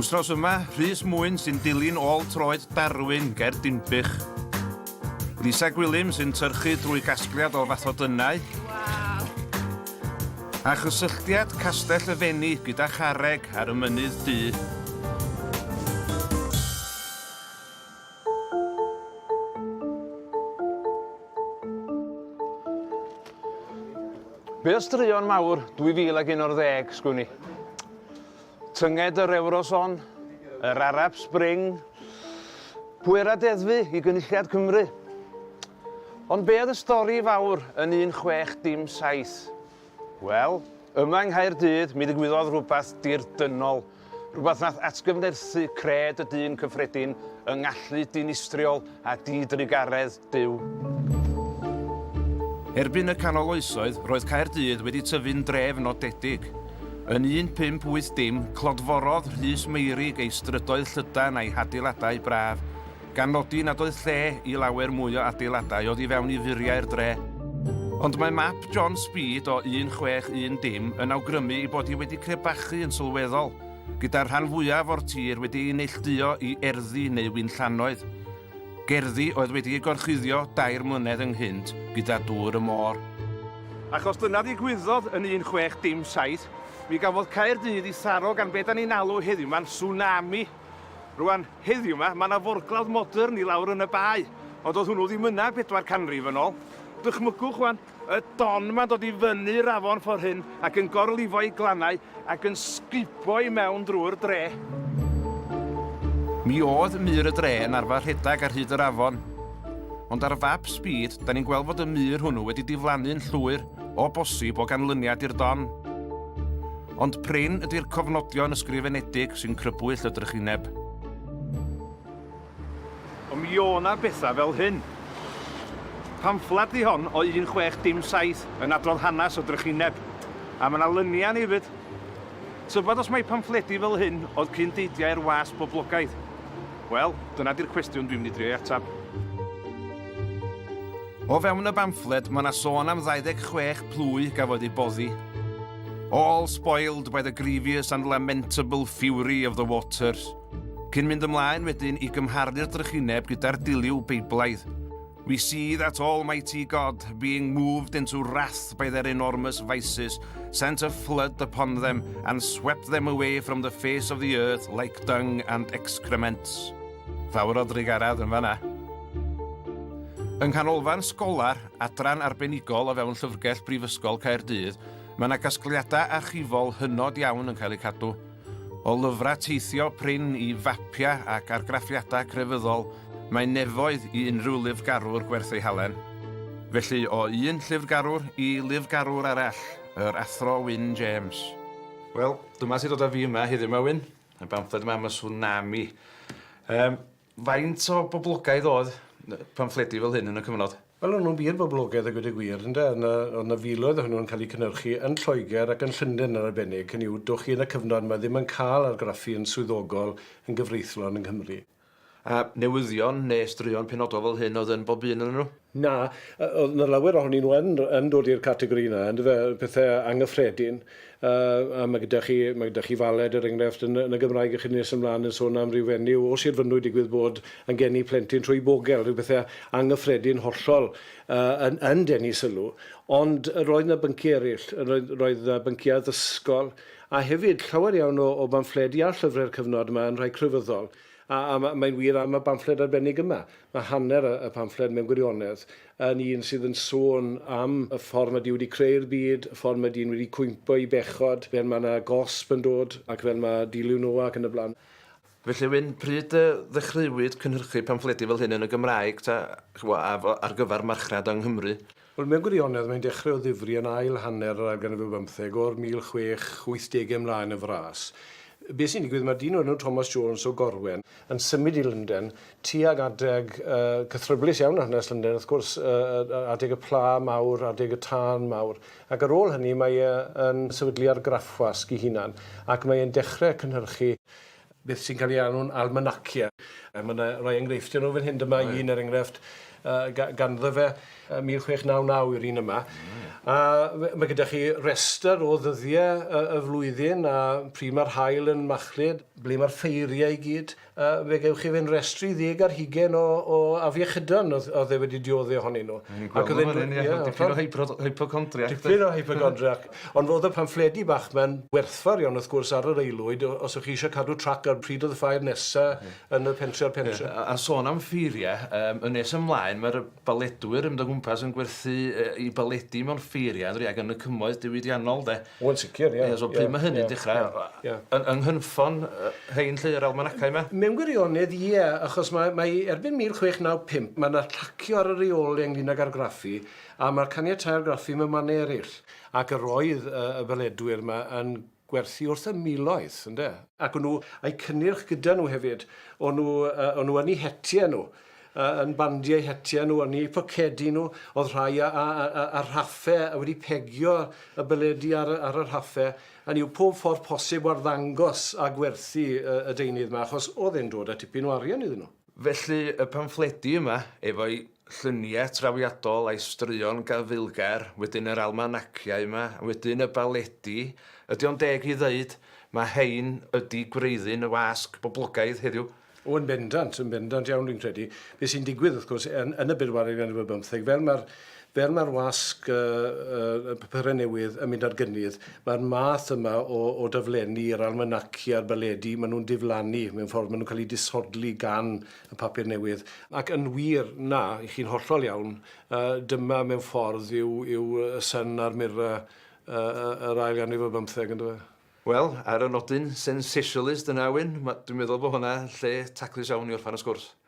Wsnos yma, Rhys Mwyn sy'n dilyn ôl troed Darwin ger Dinbych. Lisa Gwilym sy'n tyrchu drwy gasgliad o fathodynnau. A chysylltiad Castell y Fenni gyda Charreg ar y Mynydd Du. Be o straeon mawr 2011, sgwn i? Tynged yr Ewroson, yr Arab Spring, pwera deddfu i gynulliad Cymru. Ond be oedd y stori fawr yn 17 dim 7? Wel, yma yng Nghaerdydd mi ddigwyddodd rhywbeth dirdynnol, rhywbeth nath atgyfnerthu cred y dyn cyffredin yng ngallu dinistriol a di-drugaredd Duw. Erbyn y Canol Oesoedd, roedd Caerdydd wedi tyfu'n dref nodedig. Yn 1580, clodforodd Rhys Meurig ei strydoedd llydan a'i hadeiladau braf, gan nodi nad oedd lle i lawer mwy o adeiladau oddi fewn i furiau'r dre. Ond mae map John Speed o 1610 dim yn awgrymu ei bod hi wedi crebachu yn sylweddol, gyda'r rhan fwyaf o'r tir wedi ei neillduo i erddi neu winllannoedd, gerddi oedd wedi eu gorchuddio dair mlynedd ynghynt gyda dŵr y môr. Achos dyna ddigwyddodd yn 1617, mi gafodd Caerdydd ei tharo gan be da ni'n alw heddiw'ma'n tsunami. Rwan, heddiw 'ma, ma' 'na forglawdd modern i lawr yn y bae, ond do'dd hwnnw ddim yna bedwar canrif yn ôl. Dychmygwch rwan, y don 'ma'n dod i fyny'r afon ffor hyn ac yn gorlifo'i glannau ac yn sgubo i mewn drwy'r dre. Mi o'dd mur y dre yn arfar rhedag ar hyd yr afon, ond ar fap Speed 'dan ni'n gweld fod y mur hwnnw wedi diflannu'n llwyr, o bosib, o ganlyniad i'r don. Ond prin ydy'r cofnodion ysgrifenedig sy'n crybwyll y drychineb. Ond mi o' 'na bethau fel hyn. Pamffled ydi hon o 1607 yn adrodd hanes y drychineb, a ma' 'na lyniau yn hefyd. Tybed os mai pamffledi fel hyn oedd cyn deidiau'r wasg boblogaidd? Wel, dyna 'di'r cwestiwn dwi'n mynd i drio ei ateb. O fewn y bamffled ma' 'na sôn am 26 plwy gafodd eu boddi. All spoiled by the grievous and lamentable fury of the waters. Cyn mynd ymlaen wedyn i gymharu'r drychineb gyda'r diliw Beiblaidd. We see that Almighty God, being moved into wrath by their enormous vices, sent a flood upon them and swept them away from the face of the earth like dung and excrements. Fawr o drigarad yn fanna. Yng nghanolfan sgolar, adran arbenigol o fewn Llyfrgell Brifysgol Caerdydd, Mae yna gasgliadau archifol hynod iawn yn cael eu cadw, o lyfrau teithio prin i fapiau ac argraffiadau crefyddol, mae nefoedd i unrhyw lyfrgarwr gwerth ei halen. Felly, o un llyfrgarwr i lyfrgarwr arall, yr Athro Wyn James. Wel, dyma sy'n dod â fi yma heddiw 'ma, Wyn, y bamffled yma am y Tsunami. Yym. Faint o boblogaidd oedd pamffledi fel hyn yn y cyfnod? Wel, o'n nhw'n wir boblogaidd a gweud y gwir, ynde. O'dd 'na o'dd 'na filoedd ohonyn nhw'n cael eu cynhyrchu yn Lloegr ac yn Llunden yn arbennig, hynny yw, dowch chi yn y cyfnod 'ma ddim yn cael argraffu yn swyddogol yn gyfreithlon yng Nghymru. A newyddion neu straeon penodol fel hyn oedd yn bob un onyn nhw? Na, oedd 'na lawer ohonyn nhw yn yn dod i'r categori yna, yndyfe, pethe angyffredin. Yy a ma' gyda chi ma' gyda chi Faled er enghraifft yn y yn y Gymraeg a chi nes ymlaen yn sôn am ryw fenyw o Sir Fynwy digwydd bod yn geni plentyn trwy bogel, ryw bethe angyffredin hollol yy yn yn denu sylw. Ond roedd 'na byncie eryll, roedd roedd 'na byncie addysgol a hefyd llawer iawn o o bamffledi a llyfre'r cyfnod yma yn rhai crefyddol. A mae'n wir am y bamffled arbennig yma. Mae hanner y pamffled mewn gwirionedd yn un sydd yn sôn am y ffordd mae Duw wedi creu'r byd, y ffordd mae dyn wedi cwympo i bechod, fel mae yna gosb yn dod ac fel mae dilyw Noa ac yn y blaen. Felly, Wyn, pryd y ddechreuwyd cynhyrchu pamffledi fel hyn yn y Gymraeg, ta, chibod, ar gyfer marchnad yng Nghymru? Wel, mewn gwirionedd, mae'n dechrau o ddifri yn ail hanner yr ail ganrif ar bymtheg, o'r 1680au ymlaen yn fras. Be sy'n digwydd, mae dyn o'r enw Thomas Jones o Gorwen, yn symud i Lundain tuag adeg cythryblus iawn hanes Lundain, wrth gwrs, adeg y Pla Mawr, adeg y Tân Mawr, ac ar ôl hynny mae e yn sefydlu argraffwasg ei hunan, ac mae e'n dechrau cynhyrchu beth sy'n cael ei alw'n almanacia. A mae yna rai enghreifftiau nhw fan hyn. Dyma right. un er enghraifft uh, ganddo fe uh, 1699 yw'r un yma. Mm. A mae gyda chi rester o ddyddiau y, y flwyddyn a pryd mae'r hael yn machlud, ble mae'r ffeiriau i gyd. Uh, fe gewch chi fe'n restru ddeg ar hugen o, o afiechydon oedd, oedd e wedi diodde ohonyn nhw. Ac oedd e'n... Ie, yeah, tipyn o hypochondriac. Tipyn o hypochondriac. Ond roedd y pamffledi bach ma'n werthfawr iawn wrth gwrs ar yr aelwyd o- os o'ch chi eisiau cadw trac ar pryd oedd y ffair nesa yn y pentre a'r pentre. Ie, a- a sôn am ffeirie, yym, yn nes ymlaen mae'r y baledwyr yn mynd o gwmpas yn gwerthu yy 'u baledi mewn ffeirie on'd ydi ag yn y cymoedd diwydiannol 'de? O yn sicr ie. Ie so pryd ma' hynny'n dechra'? Ie ie ie. Yy yn yng nghynffon yy rhein 'lly yr almanacau 'ma? Mewn gwirionedd ie achos mae mae erbyn 1695 ma' 'na llacio ar y reole ynglŷn ag argraffu A mae'r caniatau'r graffu mewn mannau eraill. Ac yr oedd y beledwyr yma yn gwerthu wrth y miloedd, ynde? Ac o'n nhw a'u cynnyrch gyda nhw hefyd. O'n nhw, yy, o'n nhw yn eu hetiau nhw, yy, yn bandio eu hetiau nhw, yn eu pocedi nhw. Oedd rhai a- a- a- a- ar rhaffau, a wedi pegio y beledu ar y, ar y rhaffau. Hynny yw, pob ffordd posib o arddangos a gwerthu y, y deunydd 'ma, achos oedd e'n dod â tipyn o arian iddyn nhw. Felly, y pamffledi yma, efo'i llunie trawiadol a'i straeon gafaelgar, wedyn yr almanaciau yma, wedyn y baledi, ydy o'n deg i ddeud, mae rhein ydy gwreiddyn y wasg boblogaidd heddiw? O, yn bendant, yn bendant iawn, dwi'n credu. Be sy'n digwydd, wrth gwrs, yn, yn y bedwaredd ganrif ar bymtheg, fel mae'r Fel mae'r wasg y papurau newydd yn mynd ar gynnydd, mae'r math yma o o daflenni, yr almanaci a'r baledi, maen nhw'n diflannu mewn ffordd, maen nhw'n cael eu disodli gan y papur newydd. Ac yn wir, na, chi'n hollol iawn, dyma mewn ffordd yw yw y Sun a'r Mirror yr ail ganrif ar bymtheg, yn dyfe? Wel, ar y nodyn sensationalist yna, Wyn, dwi'n meddwl bod hwnna lle taclus iawn i orffen y sgwrs.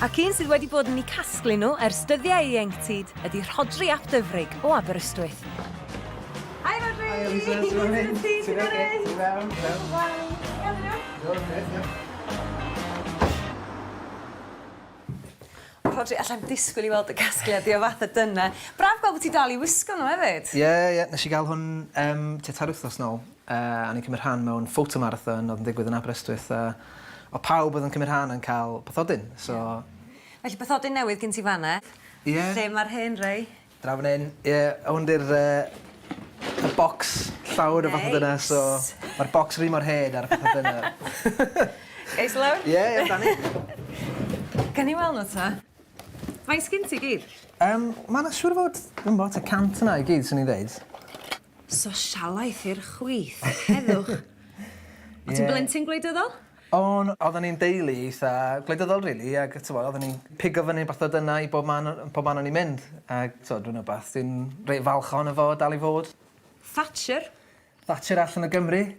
Ac un sydd wedi bod yn eu casglu nhw ers dyddiau ieuenctid ydy Rhodri ap Dyfrig o Aberystwyth. Hi Rhodri! Hi Eliza, sut mae hyn? Ti'n ok? Ti'n iawn? Ti'n iawn? Iawn dydw? Iawn, grêt, diolch. Rhodri, alla i'm disgwyl i weld y casgliad di o fatha dyna. Braf gweld bod ti dal i wisgo nhw hefyd. Ie, ie, nes i gael hwn tua tair wythnos nôl. A o'n i'n cymryd rhan mewn photomarathon oedd yn digwydd yn Aberystwyth a oedd pawb oedd yn cymryd rhan yn cael bathodyn, so... Felly bathodyn newydd gen ti fan 'na. Ie. Lle mae'r hen rai? Draw fan hyn. Ie, hwn 'di'r yy y bocs llawr o fathodyne... Neis! ...so mae'r bocs yr un mor hen a'r bathodyne. Gai ista lawr? Ie, ie amdani. Gawn ni weld nhw 'ta. Faint sgin ti i gyd? Yym, mae 'na siŵr o fod, dwi'm 'bo' tua cant yna i gyd, swn i'n ddeud. Sosialaeth i'r chwith. Heddwch. Ie. O' ti'n blentyn gwleidyddol? O'n, odden ni'n deulu eitha gwleidyddol rili ag yy t'mod odden ni'n pigo fyny bach o dyna i bob man o- yn pob man o'n ni'n mynd ag t'mod dwi'n wbath dwi'n reit falch ohono fo dal i fod. Thatcher? Thatcher allan o Gymru.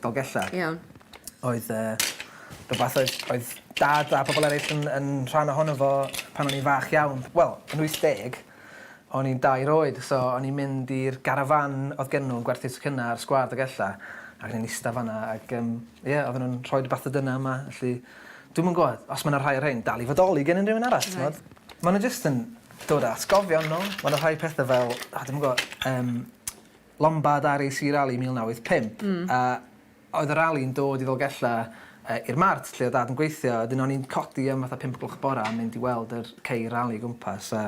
Dolgella. Iawn. Oedd yy rwbath oedd oedd dad a pobol ereill yn yn rhan ohono fo pan o'n i'n fach iawn. Wel, yn wyth deg o'n i'n dair oed so o'n i'n mynd i'r garafan odd gen nw yn gwerthu tocynna ar sgwâr Dolgella ac o'n i'n ista fan 'na ag yym ie odden nw'n rhoi dy bathodynna yma felly dwi'm yn gw'od os ma' 'na rhai o rhein dal i fodoli gen unrywun arall t'mod? Ma' n'w jyst yn dod â atgofion nôl ma' 'na rhai pethe fel o dwi'm yn gw'o' yym Lombard RAC Rally 1985 a oedd y rali'n dod i Ddolgellau yy i'r Mart lle oedd Dad yn gweithio a wedyn o'n i'n codi am fatha pump o gloch y bora a mynd i weld yr ceir rali o gwmpas a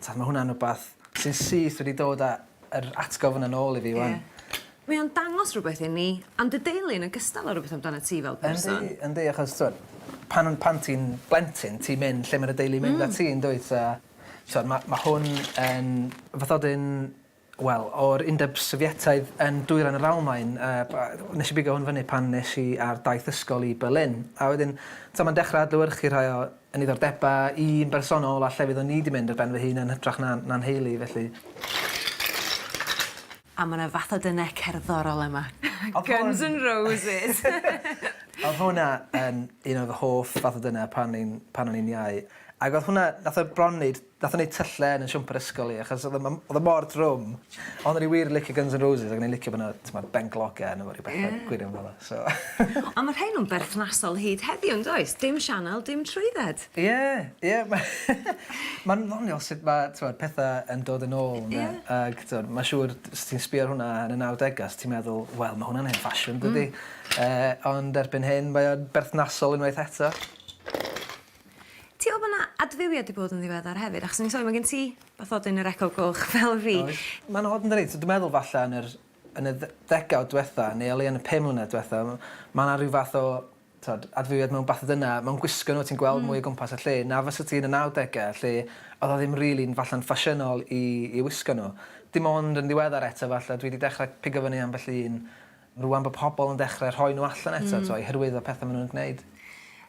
t'od ma' hwnna'n wbath sy'n syth wedi dod a yr atgof yna nôl i fi ŵan. Ie. Mae o'n dangos rwbeth i ni am dy deulu yn ogystal â rwbeth amdanat ti fel person. Yndi yndi achos t'od pan o'n pan ti'n blentyn ti'n mynd lle ma' dy deulu mynd â ti yndwyt a t'od ma' ma' hwn yn fatha 'dyn Wel, o'r Undeb Sofietaidd yn dwyrain yr Almaen, nes i bigo hwn fyny pan nes i ar daith ysgol i Berlin, a wedyn, t'o' ma'n dechra adlewyrchu rhai o 'yn niddordebau i'n bersonol a llefydd o'n i 'di mynd ar ben fy hun yn hytrach na na nheulu, felly. A ma' 'na fath o denau cerddorol yma. Guns N' Roses! O'dd hwnna yn un o fy hoff fath o denau pan o'n i'n pan o'n i'n iau, ag o'dd hwnna, nath e bron neud Nathon ni tyllau yn 'yn siwmper ysgol i achos odd o odd o mor drwm. Ond o'n i wir licio Guns N' Roses ac o'n i'n licio bo' 'na t'mod benglog arno fo ryw betha... Ie. ...gwirion fel 'a so. On' ma' rhein yn berthnasol hyd heddiw yndoes? Dim sianel dim trwydded. Ie ie ma' ma'n ddoniol sut ma' t'mod petha yn dod yn ôl ynde? Ie. Ag t'mod ma' siŵr d- os ti'n sbio ar hwnna yn y nawdega os ti'n meddwl wel ma' hwnna'n hen ffasiwn dydi? Hmm. Yy ond erbyn hyn mae o'n berthnasol unwaith eto. Ti'n wbo bo' 'na adfywiad 'di bod yn ddiweddar hefyd achos o'n i'n sôn ma' gen ti bathodyn yr Eco Goch fel fi. Oes. Ma'n od yndydi? So dwi meddwl falla yn yr yn y dde- ddegawd dwetha neu o leia yn y pum mlynedd dwetha m- ma' 'na ryw fath o t'od adfywiad mewn bathodyna mewn gwisgo n'w ti'n gweld mwy o gwmpas y lle na fysa ti yn y nawdege lle o'dd o ddim rili'n falla'n ffasiynol i i wisgo n'w. Dim ond yn ddiweddar eto falla dwi 'di dechra pigo fyny ambell un Rŵan bod pobl yn dechrau rhoi nhw allan eto t'mo' i hyrwyddo petha ma' nhw'n gwneud.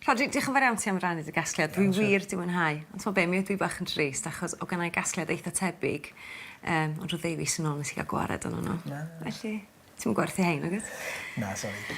Rhodri diolch yn fawr iawn ti am rannu dy gasgliad dwi wir 'di mwynhau ond t'mo' be' mi ydw i bach yn drist achos o' gennai gasgliad eitha tebyg yym ond rhyw ddeu fis yn ôl nes i ga'l gwared onno n'w. Na. Felly ti'm yn gwerthu rhein nagwyt? Na sori.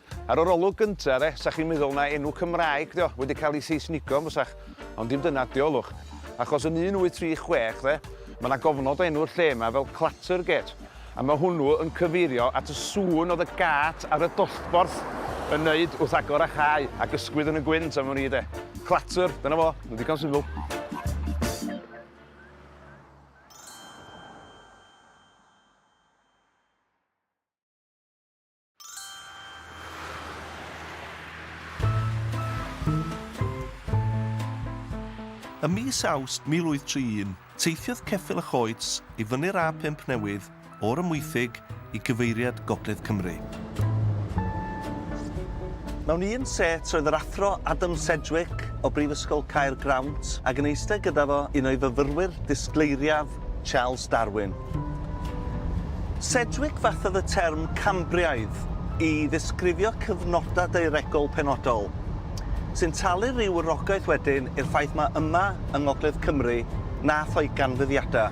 Ar yr olwg gynta de, 'sach chi'n meddwl na enw Cymraeg 'di o, wedi cael ei Seisnigo yn fysach, ond dim dyna ydi o, ylwch. Achos yn 1836 de, ma' 'na gofnod o enw'r lle 'ma fel Clattergate, a ma' hwnnw yn cyfeirio at y sŵn oedd y gât ar y dollborth yn neud wrth agor a chau, ac ysgwyd yn y gwynt am wn i de. Clatter, dyna fo, ma'n ddigon syml. Ym mis Awst 1831, teithiodd Ceffyl a Choets i fyny'r A5 newydd o'r Amwythig i gyfeiriad Gogledd Cymru. Mewn un set roedd yr Athro Adam Sedgwick o Brifysgol Caergrawnt ac yn eistedd gyda fo un o'i fyfyrwyr disgleiriaf, Charles Darwin. Sedgwick fathodd y term Cambriaidd i ddisgrifio cyfnodau daearegol penodol, sy'n talu rhyw wrogaeth wedyn i'r ffaith mai yma yng ngogledd Cymru nath o'i ganfyddiadau.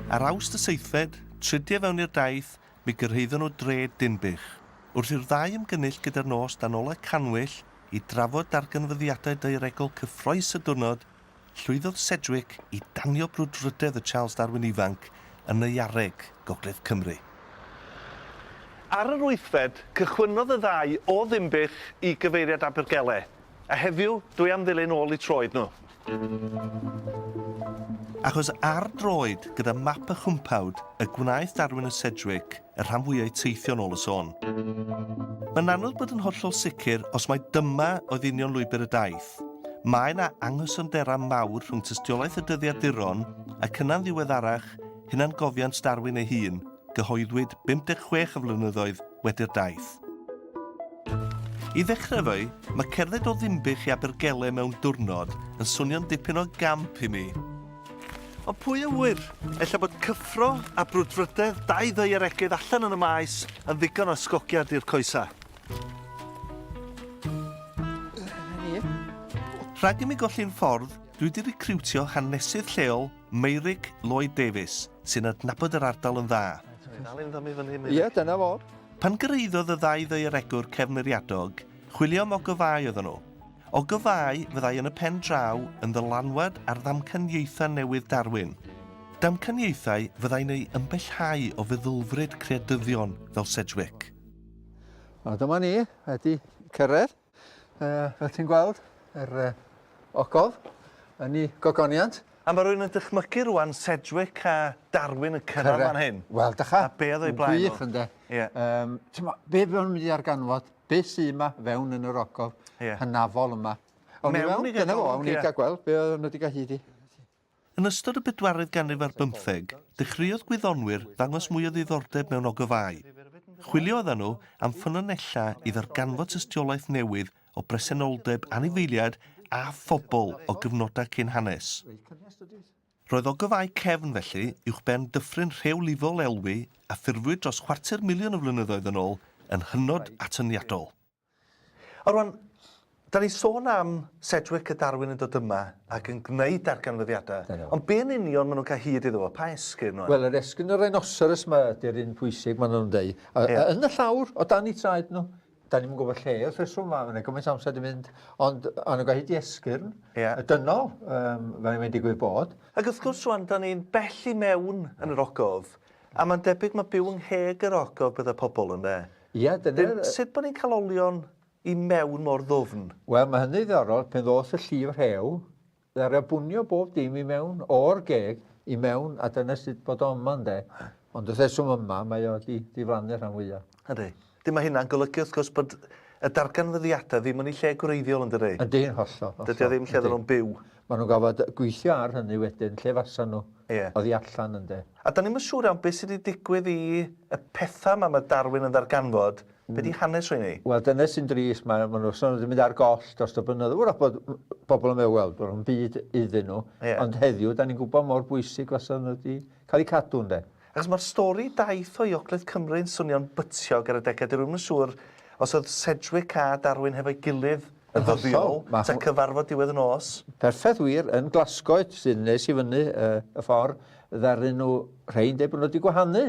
Ar Awst y seithfed, tridiau fewn i'r daith, Mi gyrhaeddon nhw dref Dinbych. Wrth i'r ddau ymgynnull gyda'r nos dan olau cannwyll i drafod darganfyddiadau daearegol cyffrous y diwrnod, llwyddodd Sedgwick i danio brwdfrydedd y Charles Darwin ifanc yn Neuareg, Gogledd Cymru. Ar yr wythfed, cychwynnodd y ddau o Ddinbych i gyfeiriad Abergele, a heddiw, dwi am ddilyn ôl eu troed nhw. Achos ar droed gyda map a chwmpawd y gwnaeth Darwin a Sedgwick y rhan fwya o'u teithio yn ôl y sôn. Mae'n anodd bod yn hollol sicr os mai dyma oedd union lwybr y daith. Mae yna anghysonderau mawr rhwng tystiolaeth y dyddiaduron ac yna'n ddiweddarach hunangofiant Darwin ei hun, gyhoeddwyd 56 o flynyddoedd wedi'r daith. I ddechrau efo'i, mae cerdded o Ddinbych i Abergele mewn diwrnod yn swnio'n dipyn o gamp i mi. Ond pwy a ŵyr, ella bod cyffro a brwdfrydedd dau ddaearegydd allan yn y maes yn ddigon o ysgogiad i'r coesau. Rhag i mi golli'n ffordd, dwi wedi recriwtio hanesydd lleol Meurig Lloyd Davies, sy'n adnabod yr ardal yn dda. Ti'n dal ynddo mi fan hyn Meurig? Ie, dyna fo. Pan gyrhaeddodd y ddau ddaearegwr cefnfuriadog, chwilio am ogofâu oedden nhw. Ogofâu fyddai yn y pen draw yn ddylanwad ar ddamcaniaethau newydd Darwin. Damcaniaethau fyddai'n ei ymbellhau o feddylfryd creadyddion fel Sedgwick. A dyma ni, wedi cyrraedd. Uh, fel ti'n gweld, yr uh, ogof yn ei gogoniant. A mae rhywun yn dychmygu rwan Sedgwick a Darwin yn cyrraedd fan hyn. Wel, dycha. A be oedd o'i blaen nhw? Wych ynddo. Yeah. Um, ma, be fe o'n mynd i arganfod, be sy'n yma fewn yn yr ogof yeah. hynafol yma. Awn ni mewn, dyna fo, awn ni yeah. gael gweld be oedd nhw wedi cael hyd i. Yn ystod y bedwaredd ganrif ar bymtheg, dechreuodd gwyddonwyr ddangos mwy o ddiddordeb mewn ogofâu. Chwilio oeddan nhw am ffynonellau i ddarganfod tystiolaeth newydd o bresenoldeb anifeiliaid a phobl o gyfnodau cyn hanes. Roedd ogofâu cefn, felly, uwchben dyffryn rheolifol elwy a ffurfwyd dros chwarter miliwn o flynyddoedd yn ôl yn hynod atyniadol. A rwan, dan ni'n sôn am Sedgwick a Darwin yn dod yma ac yn gwneud darganfyddiadau. Da iawn. Ond be yn union maen nhw'n cael hyd iddo fo? Pa esgyrn nhw? Wel, yr esgyrn y rhinoceros yma ydy'r un pwysig, maen nhw'n deud. A, Ie. a yn y llawr, o dan i traed nhw, da ni'n gwybod lle wrth reswm, mae yna gymaint o amser di mynd, ond a nhw'n cael hyd i esgyrn, Ie. y dynol, um, fel mae'n digwydd bod. Ac wrth gwrs, rwan, da ni'n bell i mewn yn yr ogof, a mae'n debyg mae byw yng ngheg yr ogof bydda pobl, ynde? Ia, dyna... Wedyn, sut bod ni'n cael olion i mewn mor ddwfn? Wel, mae hynny'n ddiddorol, pan ddoth y llif rhew, ddaru o bwnio bob dim i mewn, o'r geg i mewn, a dyna sut bod o yma, ynde. Ond wrth reswm yma, mae o 'di diflannu rhan fwya'. Yndi. 'Dyn mae hynna'n golygu, wrth gwrs, bod y darganfyddiadau ddim yn eu lle gwreiddiol, yn dydi? Yndi, yn hollol, hollol. Dydi o ddim lle oedden nhw'n byw. Maen nhw'n gorfod gweithio ar hynny wedyn, lle fasen nhw Ie. oddi allan ynde? A 'dan ni'm yn siŵr iawn be' sy' 'di digwydd i y petha' 'ma ma' Darwin yn ddarganfod, be' 'di hanes rheiny? Wel dyna sy'n drist, ma' ma' nhw sôn bod 'di mynd ar goll dros y blynyddoedd, 'w'rach bod bobl yn meddwl wel do'dd o'm byd iddyn nhw, Ie. ond heddiw 'dan ni'n gwybod mor bwysig fasa nhw 'di cael eu cadw ynde? Achos mae'r stori daeth o i Ogledd Cymru yn swnio'n bytiog ar adegau, dwi ddim yn siŵr os oedd Sedgwick a Darwin hefo'i gilydd yn ddyddiol, ta cyfarfod diwedd y nos. Perffaith wir, yn Glasgow sy'n nes i fyny y ffordd ddaru nhw, rhei'n deud bod nhw wedi gwahanu,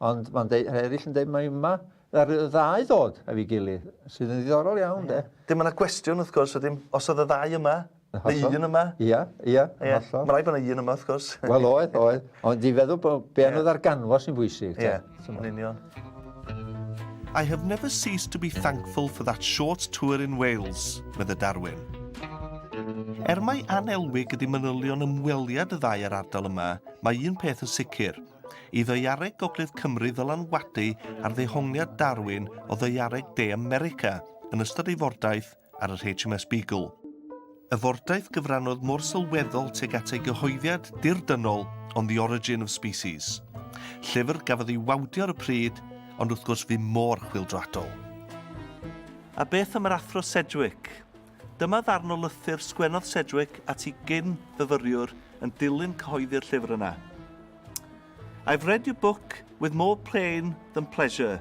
ond mae'n deud, rhai eraill yn deud mai yma ddaru y ddau ddod efo'i gilydd, sydd yn ddiddorol iawn de. Dim ond y cwestiwn wrth gwrs wedyn, os oedd y ddau yma, Yn hollol. Mae un yma. Ia, ia, yn hollol. Ie, ma' raid bo' 'na un yma wrth gwrs. Wel oedd, oedd. Ond i feddwl bo' be' anodd ar ganfos sy'n bwysig te. Ie, yn union. I have never ceased to be thankful for that short tour in Wales, medde Darwin. Er mai anelwig ydi manylion ymweliad y ddau â'r ardal yma, mae un peth yn sicr. I ddaeareg gogledd Cymru ddylanwadu ar ddehongliad Darwin o ddaeareg de America yn ystod ei fordaith ar yr HMS Beagle. Y fordaith gyfrannodd mor sylweddol tuag at ei gyhoeddiad dirdynnol On the Origin of Species. Llyfr gafodd ei wawdio ar y pryd, ond wrth gwrs fu mor chwildroadol. A beth am yr Athro Sedgwick? Dyma ddarn o lythyr sgwennodd Sedgwick at i gyn fyfyriwr yn dilyn cyhoeddi'r llyfr yna. I've read your book with more pain than pleasure,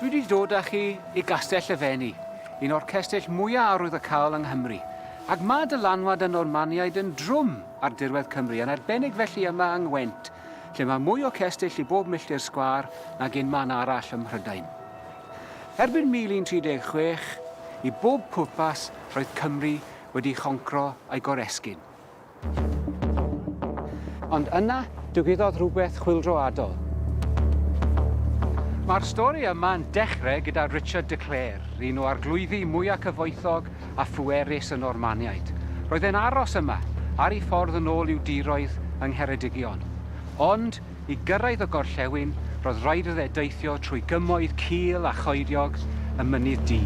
Dwi wedi dod â chi i Gastell y Fenni, un o'r cestyll mwya' arwyddocaol yng Nghymru, ac ma' dylanwad y Normaniaid yn drwm ar dirwedd Cymru, yn arbennig felly yma yng Ngwent, lle mae mwy o cestyll i bob milltir sgwâr nag un man arall ym Mhrydain. Erbyn 1136, i bob pwrpas, roedd Cymru wedi choncro a'i goresgyn. Ond yna, digwyddodd rhywbeth chwyldroadol. Mae'r stori yma'n dechrau gyda Richard de Clare, un o arglwyddi mwyaf cyfoethog a phwerus y Normaniaid. Roedd e'n aros yma, ar ei ffordd yn ôl i'w diroedd yng Ngheredigion. Ond, I gyrraedd y gorllewin, roedd raid iddo fe deithio trwy gymoedd cul a choediog y Mynydd Du.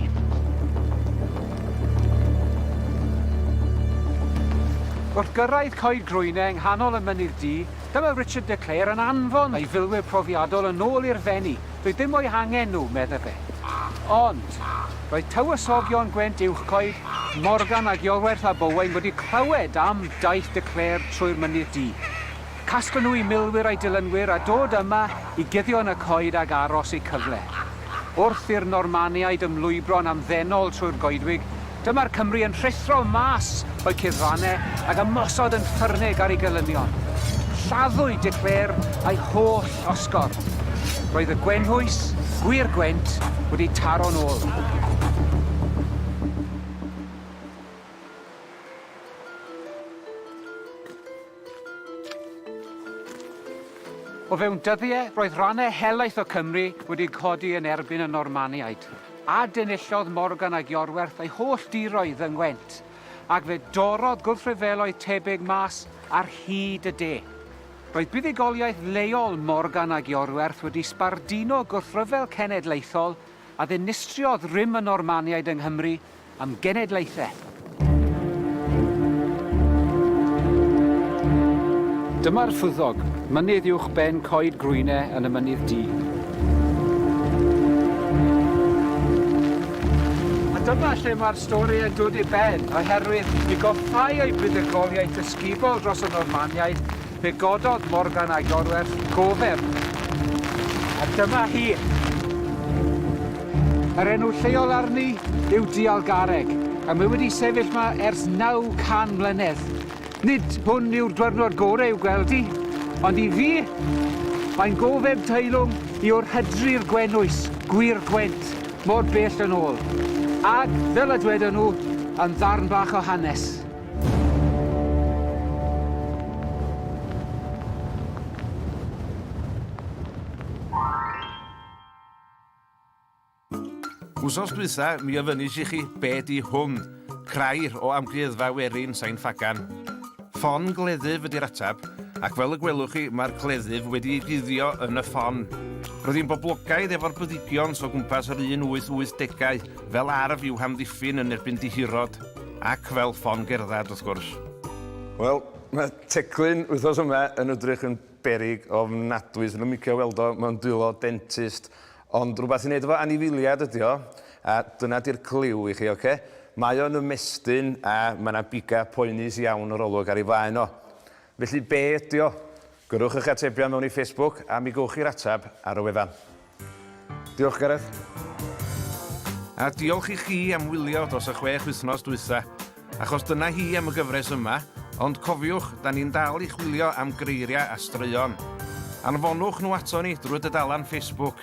Wrth gyrraedd Coed Groenau yng nghanol y Mynydd Du, dyma Richard de Clare yn anfon ei filwyr profiadol yn ôl i'r Fenni, doedd dim o'u hangen nhw, medda fe. Ond, roedd tywysogion Gwent Uwchcoed, Morgan ac Iorwerth ab Owain wedi clywed am daith de Clare trwy'r Mynydd Du. Casglen nhw i milwyr a'i dilynwyr a dod yma i guddio yn y coed ag aros eu cyfle. Wrth i'r Normaniaid ymlwybro'n amddenol trwy'r goedwig, dyma'r Cymry yn rhuthro mas o'u cuddfannau ag ymosod yn ffyrnig ar ei gelynion. Lladdwyd De Clare a'i holl osgordd. Roedd y Gwenhwys, gwir Gwent, wedi taro'n ôl. O fewn dyddiau, roedd rhannau helaeth o Cymru wedi codi yn erbyn y Normaniaid, a denillodd Morgan ag Iorwerth ei holl diroedd yng Ngwent, ac fe dorrodd gwrthryfeloedd tebyg mas ar hyd y de. Roedd buddugoliaeth leol Morgan ag Iorwerth wedi sbarduno gwrthryfel cenedlaethol a ddinistriodd rym y Normaniaid yng Nghymru am genedlaethau. Dyma'r Rhyddog, mynydd uwch ben Coed Grwyne yn y Mynydd Du. A dyma lle mae'r stori yn dod i ben, oherwydd i goffáu ei buddugoliaeth ysgubol dros y Normaniaid, Fe gododd Morgan a'i gorwerth gofeb, a dyma hi! Yr enw lleol arni yw Dialgareg, a mae wedi sefyll yma ers 900 mlynedd. Nid hwn yw'r dwyrnod gorau i'w gweld hi, ond i fi, mae'n gofeb teilwng i o'r hydri'r Gwennwys, Gwŷr Gwent, mor bell yn ôl. Ac, fel y dwedon nhw, yn ddarn bach o hanes. Wsos dwytha, mi ofynis i chi be di hwn, crair o amgueddfa werin Sain Ffagan. Ffon gleddyf ydy'r atab, ac fel y gwelwch chi, mae'r gleddyf wedi ei guddio yn y ffon. Roedd hi'n boblogaidd efo'r byddigion so gwmpas yr un 880au, fel arf i'w hamddiffyn yn erbyn dihirod. Ac fel ffon gerdded, wrth gwrs. Wel, mae teclyn wythnos yma yn ydrych yn beryg ofnadwy. Swn i'n licio weld o mewn dwylo dentist. Ond rhywbeth i wneud efo anifeiliaid ydy o. A dyna di'r cliw i chi, oce? Mae o'n ymestyn a mae 'na bigau poenus iawn yr olwg ar ei flaen o. Felly be ydy o? Gyrrwch eich atebion mewn i Facebook a mi gewch chi'r ateb ar y wefan. Diolch Gareth. A diolch i chi am wylio dros y chwech wythnos dwytha. Achos dyna hi am y gyfres yma, ond cofiwch, 'da ni'n dal i chwilio am greiriau a straeon. Anfonwch nhw aton ni drwy dudalan Facebook.